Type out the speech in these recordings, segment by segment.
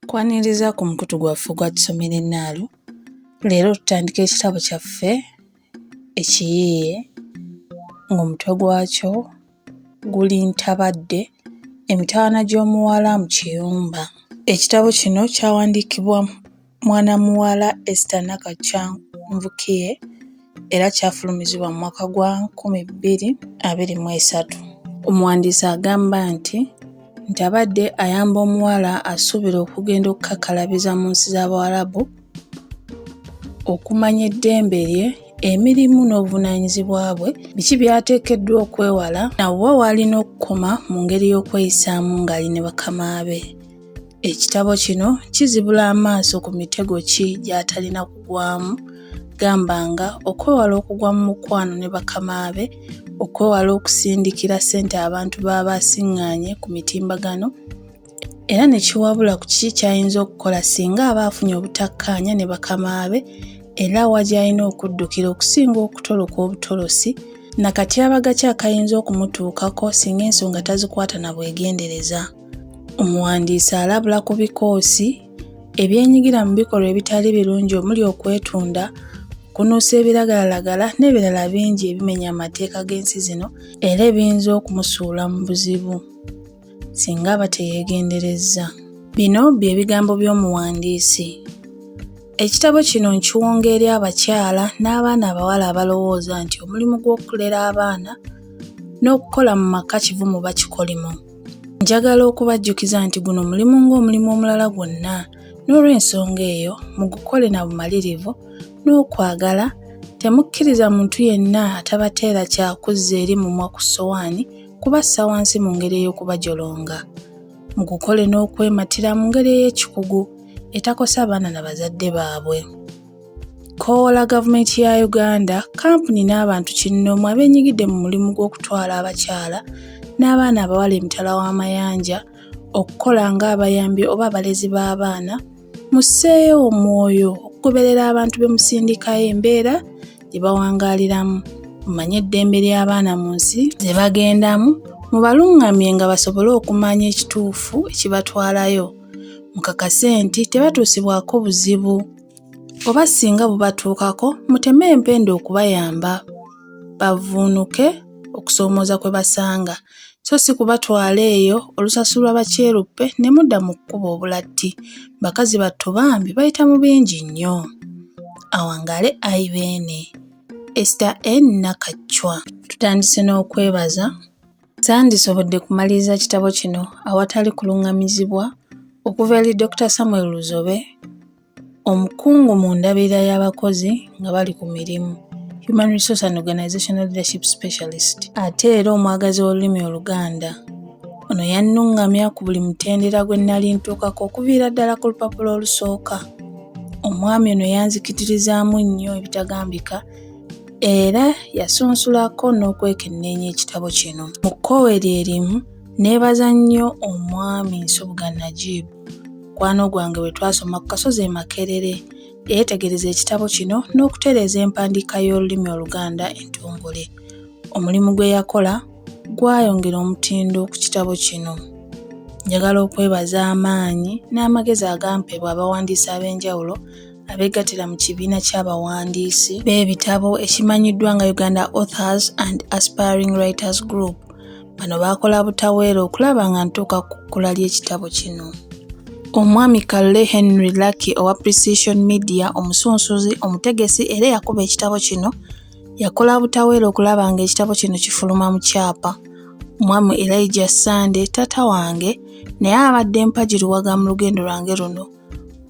Nkwaniriza ku mukutu gwaffe ogwa Tusomera Ennaalo. Leero tutandika ekitabo kyaffe ekiyiiye ng'omutwe gwakyo guli Ntabadde emitawana gy'omuwala mu kiyumba. Ekitabo kino kyawandiikibwa Mwana muwala Esther Nakakya Nvukie era kyafulumizibwa mu mwaka gwa nkumi bbiri abiri mu esatu. Omuwandiisi agamba nti nti abadde ayamba omuwala asuubira okugenda okukakalabiza mu nsi z'Abawarabu okumanya eddembe lye emirimu n'obuvunaanyizibwa bwe biki by'ateekeddwa okwewala na wa w'alina okukoma mu ngeri y'okweyisaamu ng'ali ne bakama be. Ekitabo kino kizibula amaaso ku mitego ki gy'atalina kugwamu gamba nga okwewala okugwa mu mukwano ne bakama be, okwewala okusindikira ssente abantu b'aba asiŋŋaanye ku mitimbagano era ne kiwabula ku kiki ky'ayinza okukola singa aba afunye obutakkaanya ne bakama be era wa gy'alina okuddukira okusinga okutoloka obutolosi na katyabaga ki akayinza okumutuukako singa ensonga tazikwata na bwegendereza. Omuwandiisi alabula ku bikoosi ebyenyigira mu bikolwa ebitali birungi omuli okwetunda, okunuusa ebiragalalagala n'ebirala bingi ebimenya amateeka g'ensi zino era ebiyinza okumusuula mu buzibu singa aba teyeegenderezza. Bino bye bigambo by'omuwandiisi. Ekitabo kino nkiwonga eri abakyala n'abaana abawala abalowooza nti omulimu gw'okulera abaana n'okukola mu maka kivumu bakikolimu. Njagala okubajjukiza nti guno mulimu ng'omulimu omulala gwonna, n'olw'ensonga eyo mugukole na bumalirivu n'okwagala, temukkiriza muntu yenna atabateera kya kuzza eri mumwa ku ssowaani kubassa wansi mu ngeri ey'okubajolonga. Mugukole n'okwematira mu ngeri ey'ekikugu etakosa baana na bazadde baabwe. Koola gavumenti ya Uganda, kkampuni n'abantu kinnoomu abenyigidde mu mulimu gw'okutwala abakyala n'abaana abawala emitala w'amayanja okukola ng'abayambi oba abalezi b'abaana, musseeyo omwoyo okugoberera abantu be musindikayo embeera gye bawangaaliramu, mumanye eddembe ly'abaana mu nsi ze bagendamu, mubalungamye nga basobole okumanya ekituufu ekibatwalayo, mukakase nti tebatuusibwako buzibu. oba singa bubatuukako muteme empenda okubayamba bavvuunuke okusoomooza kwe basanga so si kubatwala eyo olusasulwa bakyeruppe ne mudda mu kkuba obulatti bakazi battu bambi bayita mu bingi nnyo awangaale ayi beene esita en nakacwa tutandise n'okwebaza tandisobodde kumaliriza kitabo kino awatali kulungamizibwa okuva eri dr samuel luzobe Omukungu mu ndabirira y'abakozi nga bali ku mirimu, Human Resource and Organizational Leadership Specialist, ate era omwagazi w'olulimi Oluganda. Ono yannungamya ku buli mutendera gwe nnali ntuukako okuviira ddala ku lupapula olusooka. Omwami ono yanzikitirizaamu nnyo ebitagambika era yasunsulako n'okwekenneenya ekitabo kino. Mu kkowe lye limu, nneebaza nnyo omwami Nsubuga Najib Mukwano gwange bwe twasoma ku kasozi e Makerere, yayetegereza ekitabo kino n'okutereeza empandiika y'olulimi Oluganda entongole. Omulimu gwe yakola gwayongera omutindo ku kitabo kino. Njagala okwebaza amaanyi n'amagezi agampebwa abawandiisi ab'enjawulo abeegattira mu kibiina ky'abawandiisi b'ebitabo ekimanyiddwa nga Uganda Authors and Aspiring Writers Group Bano baakola butaweera okulaba nga ntuuka ku kkula ly'ekitabo kino. Omwami Kalle Henry Lucky owa Precision Media omusunsuzi, omutegesi era eyakuba ekitabo kino yakola butaweera okulaba ng'ekitabo kino kifuluma mu kyapa. Omwami Elijah Sande, taata wange, naye abadde mpagiruwaga mu lugendo lwange luno.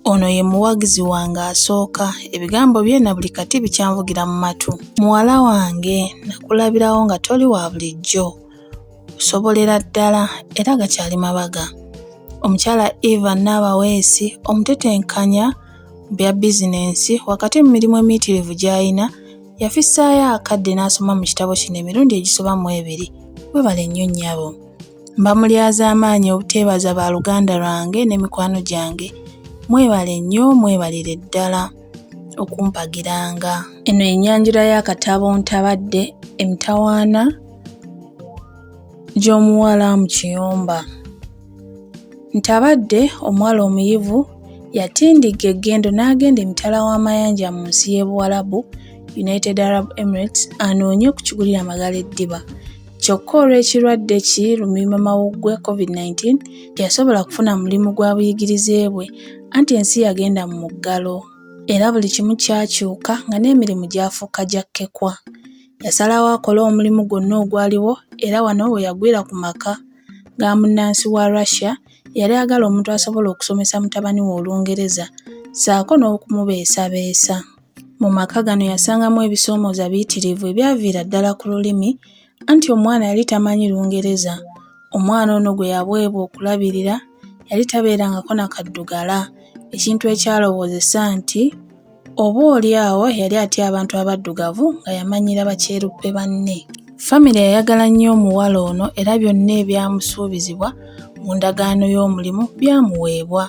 Ono ye muwagizi wange asooka, ebigambo bye na buli kati bikyanvugira mu matu. Muwala wange nakulabirawo nga toli wa bulijjo, osobolera ddala era gakyali mabaga. Omukyala Eva Naabaweesi omutetenkanya mu bya bizinensi wakati mu mirimu emiyitirivu gy'alina yafissaayo akadde n'asoma mu kitabo kino emirundi egisoba mu ebiri. Webale nnyo nnyabo. Mba mulyazaamaanyi obuteebaza ba luganda lwange ne mikwano gyange. Mwebale nnyo mwebalire ddala okumpagiranga. Eno ye nyanjula y'akatabo Ntabadde emitawaana gy'omuwala mu kiyumba. Ntabadde omuwala omuyivu yatindigga eggendo n'agenda emitala w'amayanja mu nsi y'e Buwalabu, United Arab Emirates, anoonye okukigulira Magala eddiba. Kyokka olw'ekirwadde ki lumiimamawuggwe, Covid nineteen, teyasobola kufuna mulimu gwa buyigirize bwe anti ensi yagenda mu muggalo era buli kimu kyakyuka nga n'emirimu gyafuuka gya kkekwa. Yasalawo akole omulimu gwonna ogwaliwo era wano we yagwira ku maka ga munnansi wa Russia eyali ayagala omuntu asobola okusomesa mutabani we Olungereza ssaako n'okumubeesabeesa. Mu maka gano yasangamu ebisoomooza biyitirivu ebyaviira ddala ku lulimi anti omwana yali tamanyi Lungereza. Omwana ono gwe yaweebwa okulabirira yali tabeerangako na kaddugala ekintu ekyalowoozesa nti oboolyawo yali atya abantu abaddugavu nga yamanyiira bakyeruppe banne. Famire yayagala nnyo omuwala ono era byonna ebyamusuubizibwa mu ndagaano y'omulimu byamuweebwa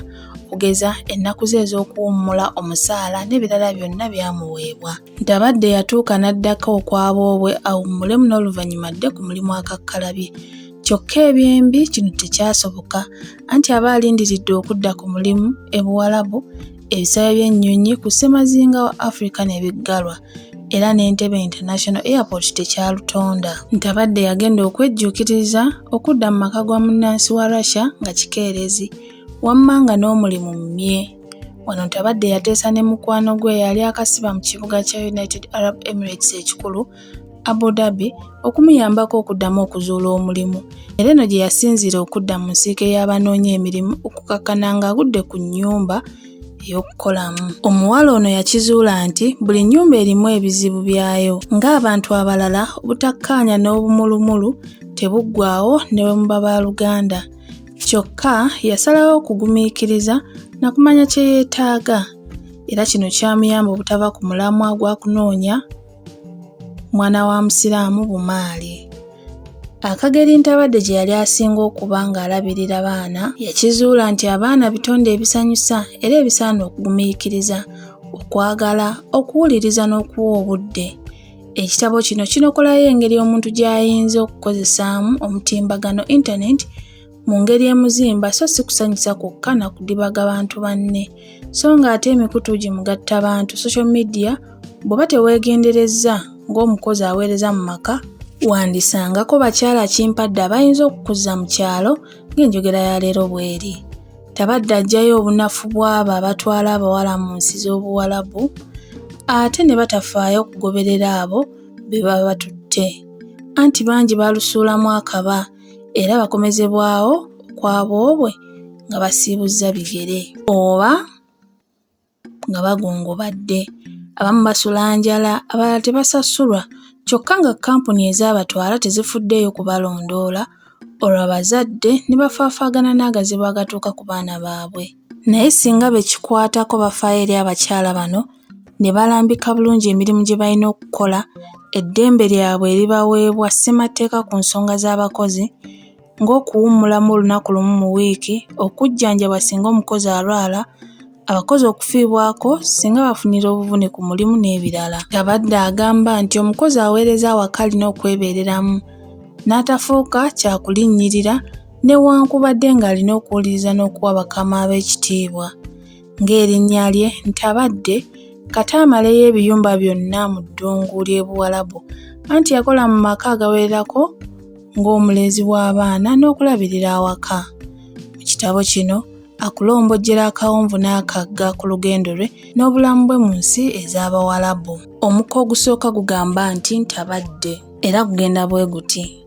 okugeza ennaku ze ez'okuwummula omusaala n'ebirala byonna byamuweebwa. Ntabadde yatuuka n'addako okwa boobwe awummulemu n'oluvannyuma adde ku mulimu akakkalabye. Kyokka ebyembi kino tekyasoboka anti aba alindiridde okudda ku mulimu e Buwalabu ebisaawe by'ennyonyi ku ssemazinga wa Africa ne biggalwa era n'Entebe International Airport tekyalutonda nti abadde yagenda okwejjuukiriza okudda mu maka gwa munnansi wa Russia nga kikeerezi wamma nga n'omulimu mmye wano nti abadde yateesa ne mukwano gwe yali akasiba mu kibuga kya United Arab Emirates ekikulu Abu Dhabi, okumuyambako okuddamu okuzuula omulimu era eno gye yasinziira okudda mu nsiike y'abanoonya emirimu okukakkana ng'agudde ku nnyumba ey'okukolamu. Omuwala ono yakizuula nti buli nnyumba erimu ebizibu byayo ng'abantu abalala obutakkaanya n'obumulumulu tebuggwaawo ne bwe muba ba luganda. Kyokka yasalawo okugumiikiriza na kumanya kye yeetaaga era kino kyamuyamba obutava ku mulamwa gwa kunoonya mwana wa musiraamu bumaali akageri ntabadde gye yali asinga okuba ng'alabirira baana yakizuula nti abaana bitonde ebisanyusa era ebisaana okugumiikiriza okwagala okuwuliriza n'okuwa obudde ekitabo kino kinokolayo engeri omuntu gy'ayinza okukozesaamu omutimbagano intaneti mu ngeri emuzimba so si kusanyusa kwokka na kudibaga bantu banne so ng'ate emikutu gye mugatta bantu social media bw'oba teweegenderezza ng'omukozi aweereza mu maka wandisangako bakyala kimpadde abayinza okukuza mu kyalo ng'enjogera ya leero bw'eri tabadde ajjayo obunafu bw'abo abatwala abawala mu nsi z'obuwalabu ate ne batafaayo okugoberera abo be baba batutte anti bangi balusuulamu akaba era bakomezebwawo kwa boobwe nga basiibuzza bigere oba nga bagongobadde abamu basula njala abalala tebasasulwa kyokka nga kkampuni ezaabatwala tezifuddeeyo kubalondoola olwo abazadde ne bafaafaagana n'agazibu agatuuka ku baana baabwe naye singa be kikwatako bafaayo eri abakyala bano ne balambika bulungi emirimu gye balina okukola, eddembe lyabwe eribaweebwa Ssemateeka ku nsonga z'abakozi ng'okuwummulamu olunaku lumu mu wiiki, okujjanjabwa singa omukozi alwala, abakozi okufiibwako singa bafunira obuvune ku mulimu n'ebirala. Yabadde agamba nti omukozi aweereza awaka alina okwebeereramu n'atafuuka kyakulinnyirira newankubadde ng'alina okuwuliriza n'okuwa bakama be ekitiibwa. ng'erinnya lye Ntabadde kata amaleyo ebiyumba byonna mu ddungu ly'e Buwalabu anti yakola mu maka agawererako ng'omulezi w'abaana n'okulabirira awaka. Mu kitabo kino akulombojjera akawonvu n'akagga ku lugendo lwe n'obulamu bwe mu nsi ez'Abawalabu. Omuko ogusooka gugamba nti Ntabadde era gugenda bwe guti.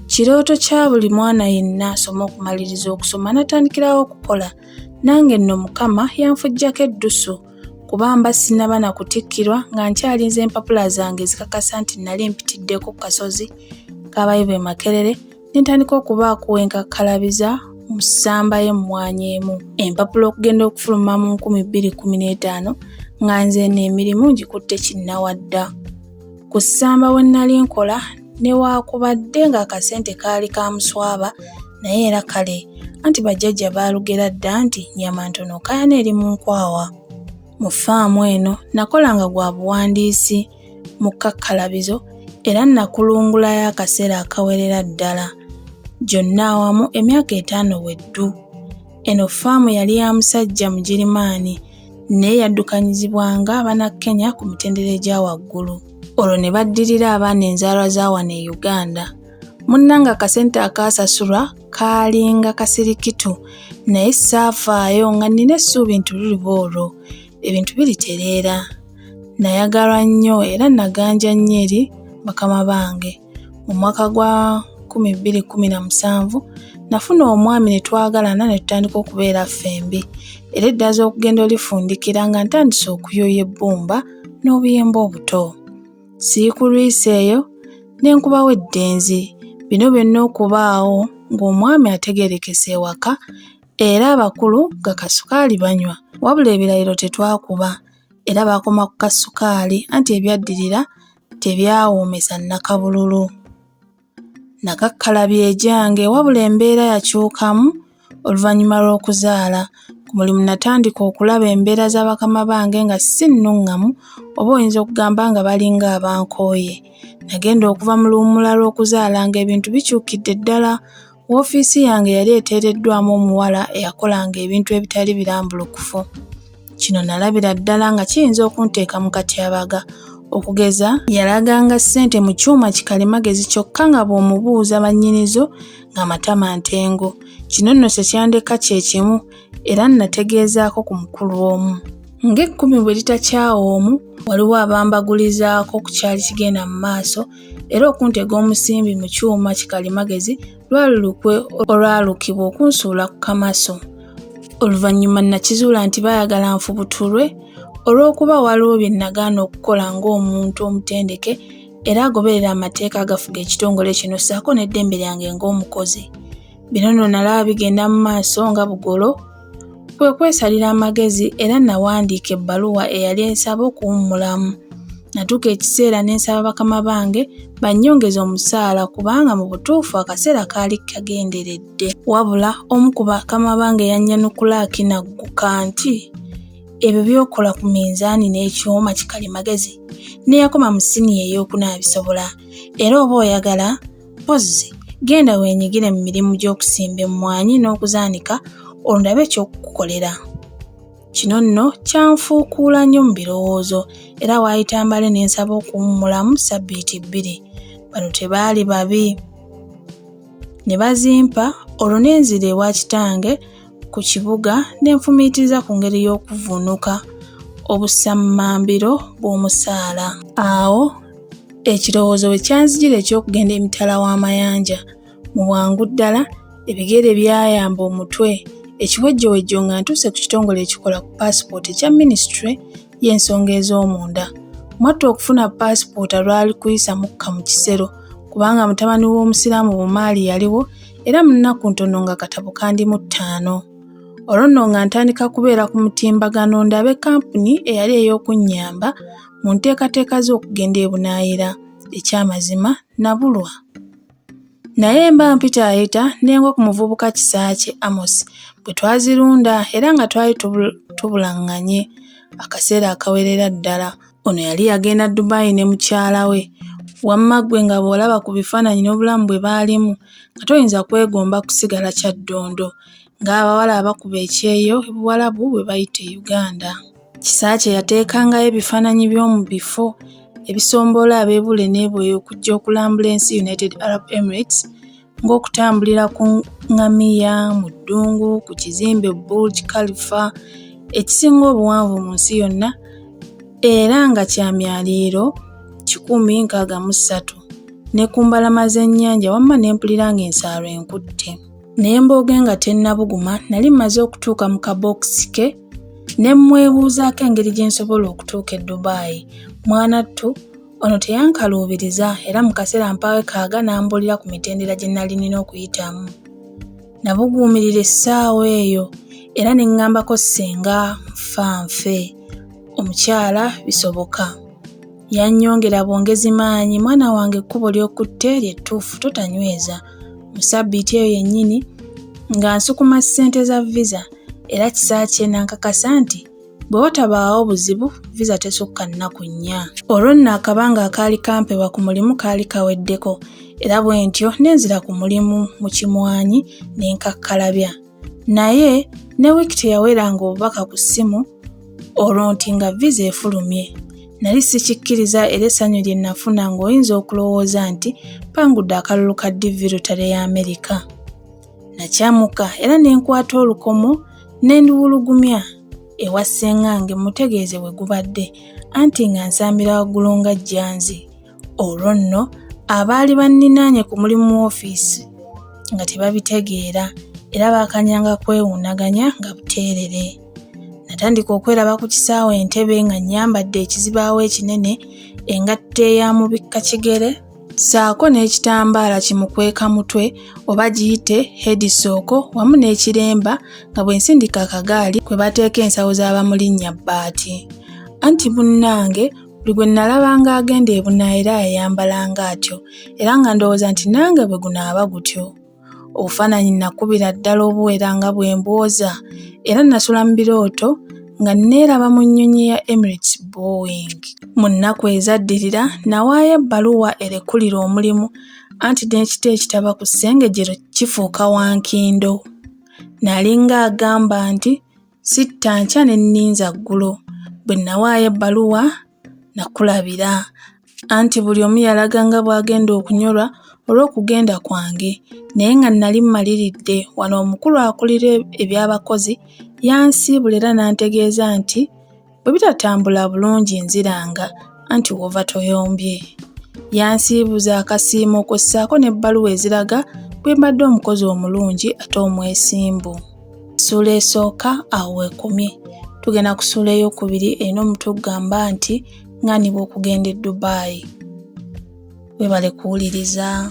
Kirooto kya buli mwana yenna asoma okumaliriza okusoma natandikirawo okukola. Nange nno Mukama yanfujjako eddusu kuba mba sinaba na kutikkirwa nga nkyalinze empapula zange ezikakasa nti nali mpitiddeko ku kasozi k'abayivu e Makerere ne ntandika okubaako we nkakkalabiza mu ssamba y'emmwanyi emu empapula okugenda okufuluma mu nkumi bbiri kkumi n'etaano nga nze eno emirimu ngikutte kinnawadda. Ku ssamba we nnali nkola newaakubadde ng'akasente kaali ka muswaba naye era kale anti bajjajja baalugera dda nti nnyama ntono kaayana eri mu nkwawa. Mu ffaamu eno nakolanga gwa buwandiisi mu kkakkalabizo era nakulungulayo akaseera akawerera ddala. Gyonna awamu emyaka etaano bwe ddu. Eno ffaamu yali ya musajja Mugirimaani naye yaddukanyizibwanga abana Kenya ku mitendera egya waggulu olwo ne baddirira abaana enzaalwa za wano e Uganda. Munnange akasente akaasasulwa kaalinga kasirikitu naye saafaayo nga nnina essuubi nti luliba olwo ebintu biritereera. Nayagalwa nnyo era naganja nnyo eri bakama bange. mu mwaka gwa 2017 nafuna omwami ne twagalana ne tutandika okubeera ffembi era eddaza okugenda olifundikira nga ntandise okuyoya ebbumba n'obuyemba obuto siikulwisa eyo ne nkubawo eddenzi bino byonna okubaawo ng'omwami ategeerekese ewaka era abakulu nga kasukaali banywa wabula ebirayiro tetwakuba era baakoma ku kasukaali anti ebyaddirira tebyawuumisa nnakabululu. Nakakkalabi egyange wabula embeera yakyukamu oluvannyuma lw'okuzaala. Ku mulimu natandika okulaba embeera za bakama bange nga si nnuŋŋamu oba oyinza okugamba nga balinga abankooye. Nagenda okuva mu luwummula lw'okuzaalanga ebintu bikyukidde ddala Woofiisi yange yali eteereddwamu omuwala eyakolanga ebintu ebitali birambulukufu. Kino nalabira ddala nga kiyinza okunteeka mu katyabaga. Okugeza yalaganga ssente mu kyuma kikalimagezi kyokka nga bw'omubuuza bannyinizo nga matama ntengo. Kino nno tekyandeka kye kimu era nnategeezaako ku mukulu omu. Ng'ekkumi bwe litakyawa omu, waliwo abambagulizaako ku kyali kigenda mu maaso era okuntega omusimbi mu kyuma kikalimagezi lwali lukwe olwalukibwa okunsuula ku kamaso oluvannyuma nakizuula nti baayagala nfubutulwe olw'okuba waliwo bye nagaana okukola ng'omuntu omutendeke era agoberera amateeka agafuga ekitongole kino ssaako n'eddembe lyange ng'omukozi Bino nno nalaba bigenda mu maaso nga bugolo, kwe kwesalira amagezi era nawandiika ebbaluwa eyali ensaba okuwummulamu. Natuuka ekiseera ne nsaba bakama bange bannyongeze omusaala kubanga mu butuufu akaseera kaali kagenderedde. Wabula omu ku bakama bange yannyanukula akinagguka nti, ebyo by'okola ku minzaani n'ekyuma kikalimagezi n'eyakoma mu siniya ey'okuna abisobola era oba oyagala Mpozzi genda weenyigire mu mirimu gy'okusimba emmwanyi n'okuzaanika ondabe ekyokukukolera. Kino nno kyanfuukuula nnyo mu birowoozo era waayita mbale ne nsaba okuwummulamu ssabbiiti bbiri. Bano tebaali babi ne bazimpa olwo ne nzira ewa kitange ku kibuga n'enfumiitiriza ku ngeri y'okuvvuunuka obusammambiro bw'omusaala. Awo ekirowoozo bwe kyanzijira eky'okugenda emitala w'amayanja, mu bwangu ddala ebigere byayamba omutwe ekiwejjowejjo nga ntuuse ku kitongole ekikola ku paasipooti ekya minisitule y'ensonga ez'omunda. Mwatta okufuna paasipoota lwali kuyisa mukka mu kisero kubanga mutabani w'Omusiraamu Bumaali yaliwo era mu nnaku ntono nga katabo kandi mu ttaano. Olwo nno nga ntandika kubeera ku mutimbagano ndabe kampuni eyali ey'okunnyamba mu nteekateeka z'okugenda e Bunaayira. Ekyamazima nabulwa. Naye mba mpitaayita ne ngwa ku muvubuka Kisaakye Amos bwe twazirunda era nga twali tubulaŋŋanye akaseera akawerera ddala. Ono yali yagenda Dubai ne mukyala we. Wamma ggwe nga bw'olaba ku bifaananyi n'obulamu bwe baalimu nga toyinza kwegomba kusigala Kyaddondo. ng'abawala abakuba ekyeyo e Buwalabu bwe bayita e Uganda. Kisaakye yateekangayo ebifaananyi by'omu bifo ebisomboola abeebule n'eboyo okujja okulambula ensi United Arab Emirates ng'okutambulira ku ngamiya, mu ddungu, ku kizimbe Burj Khalifa ekisinga obuwanvu mu nsi yonna era nga kya myaliiro kikumi nkaaga mu ssatu ne ku mbalama z'ennyanja wamma ne mpulira ng'ensaalwa enkutte. naye mbooge nga tennabuguma nali mmaze okutuuka mu kabookisi ke ne mmwebuuzaako engeri gye nsobola okutuuka e dubaayi mwanattu ono teyankaluubiriza era mu kaseera mpaawe kaaga n'ambuulira ku mitendera gye nali nina okuyitamu nabuguumirira essaawa eyo era ne ŋŋambako ssenga nfa nfe omukyala bisoboka Yannyongera bwongezi maanyi, Mwana wange ekkubo ly'okutte lye ttuufu, totanyweza. Mu ssabbiiti eyo yennyini, nga nsukuma ssente za viza, era Kisaakye n'ankakasa nti bwe watabaawo buzibu, viza tesukka nnaku nnya. Olwo nno akabanga akaali kampebwa ku mulimu kaali kaweddeko, era bwentyo ne nzira ku mulimu mu kimwanyi ne nkakkalabya. naye ne wiiki teyaweranga obubaka ku ssimu olwo nti nga viza efulumye nali sikikkiriza era essanyu lye nnafuna ng'oyinza okulowooza nti pangudde akalulu ka divi lutale ya amerika nakyamuka era ne nkwata olukomo ne ndiwulugumya ewa ssengange mutegeeze bwe gubadde anti nga nsambira waggulu nga jjanzi Olwo nno abaali banninaanye ku mulimu woofiisi nga tebabitegeera era baakanyanga kwewuunaganya nga buteerere. Natandika okweraba ku kisaawe Entebe nga nnyambadde ekizibaawo ekinene, engatto eya mubikka kigere, ssaako n'ekitambaala kimukweka mutwe oba giyite heedisooko wamu n'ekiremba nga bwe nsindika akagaali kwe bateeka ensawo za bamulinnya bbaati. Anti munnange Buli gwe nnalabanga agenda ebunaayira yayambalanga atyo era nga ndowooza nti nange bwe gunaaba gutyo. Obufaananyi nnakubira ddala obuwera nga bwe mbwoza era nnasula mu birooto nga nneeraba mu nnyonyi ya Emirates Boeing. Mu nnaku ezaddirira nawaayo ebbaluwa erekulira omulimu anti n'ekita ekitaba ku ssengejero kifuuka wankindo. Nalinga agamba nti Sitta nkya ne nninza ggulo. Bwe nawaayo ebbaluwa nakulabira. Anti buli omu yalaga nga bw'agenda okunyolwa olw'okugenda kwange naye nga nnali mmaliridde wano omukulu akulira e-, eby'abakozi yansiibula era n'antegeeza nti bwe bitatambula bulungi nziranga anti w'ova toyombye. Yansiibuza akasiimo kwe ssaako n'ebbaluwa eziraga bwe mbadde omukozi omulungi ate omwesimbu. Ssuula esooka awo weekomye. Tugenda ku ssuula ey'okubiri erina omutwe ogugamba nti ng'anibwa okugenda e Dubai. Weebale kuwuliriza.